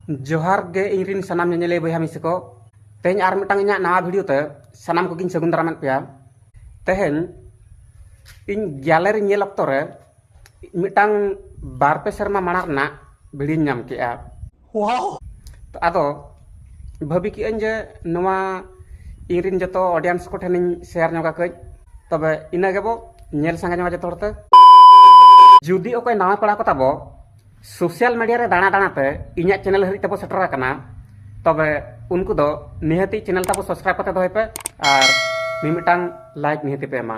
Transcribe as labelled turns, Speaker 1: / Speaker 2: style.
Speaker 1: ᱡᱚᱦᱟᱨ ᱜᱮ ᱤᱧ ᱨᱤᱱ ᱥᱟᱱᱟᱢ ᱧᱮᱧᱮᱞᱤᱭᱟᱹ ᱵᱚᱭᱦᱟ ᱢᱤᱥᱤ ᱠᱚ ᱛᱮᱦᱮᱧ ᱟᱨ ᱢᱤᱫᱴᱟᱝ ᱤᱧᱟᱹᱜ ᱱᱟᱣᱟ ᱵᱷᱤᱰᱤᱭᱳ ᱛᱮ ᱥᱟᱱᱟᱢ ᱠᱚᱜᱤᱧ ᱥᱟᱹᱜᱩᱱ ᱫᱟᱨᱟᱢᱮᱫ ᱯᱮᱭᱟ ᱛᱮᱦᱮᱧ ᱤᱧ ᱜᱮᱞᱟᱨᱤ ᱧᱮᱞ ᱚᱠᱛᱚ ᱨᱮ ᱢᱤᱫᱴᱟᱝ ᱵᱟᱨ ᱯᱮ ᱥᱮᱨᱢᱟ ᱢᱟᱲᱟᱝ ᱨᱮᱱᱟᱜ ᱵᱷᱤᱰᱤᱭᱳᱧ ᱧᱟᱢ ᱠᱮᱜᱼᱟ ᱛᱚ ᱟᱫᱚ ᱵᱷᱟᱹᱵᱤ ᱠᱮᱜᱼᱟᱹᱧ ᱡᱮ ᱱᱚᱣᱟ ᱤᱧ ᱨᱤᱱ ᱡᱚᱛᱚ ᱚᱰᱤᱭᱮᱱᱥ ᱠᱚ ᱴᱷᱮᱱᱤᱧ ᱥᱮᱭᱟᱨ ᱧᱚᱜᱟ ᱠᱟᱹᱡ ᱛᱚᱵᱮ ᱤᱱᱟᱹ ᱜᱮᱵᱚ ᱧᱮᱞ ᱥᱟᱸᱜᱮ ᱧᱚᱜᱟ ᱡᱚᱛᱚ ᱦᱚᱲᱛᱮ ᱡᱩᱫᱤ ᱚᱠᱚᱭ ᱱᱟᱣᱟ ᱯᱮᱲᱟ ᱠᱚ ᱛᱟᱵᱚ ᱥᱳᱥᱟᱞ ᱢᱤᱰᱤᱭᱟ ᱨᱮ ᱫᱟᱬᱟ ᱫᱟᱬᱟ ᱛᱮ ᱤᱧᱟᱹᱜ ᱪᱮᱱᱮᱞ ᱦᱟᱹᱨᱤᱡ ᱛᱮᱵᱚ ᱥᱮᱴᱮᱨ ᱟᱠᱟᱱᱟ ᱛᱚᱵᱮ ᱩᱱᱠᱩ ᱫᱚ ᱱᱤᱦᱟᱹᱛᱤ ᱪᱮᱱᱮᱞ ᱛᱟᱵᱚ ᱥᱟᱵᱥᱠᱨᱟᱭᱤᱵ ᱠᱟᱛᱮ ᱫᱚᱦᱚᱭ ᱯᱮ ᱟᱨ ᱢᱤᱢᱤᱫᱴᱟᱝ ᱞᱟᱭᱤᱠ ᱱᱤᱦᱟᱹᱛᱤ ᱯᱮ ᱮᱢᱟ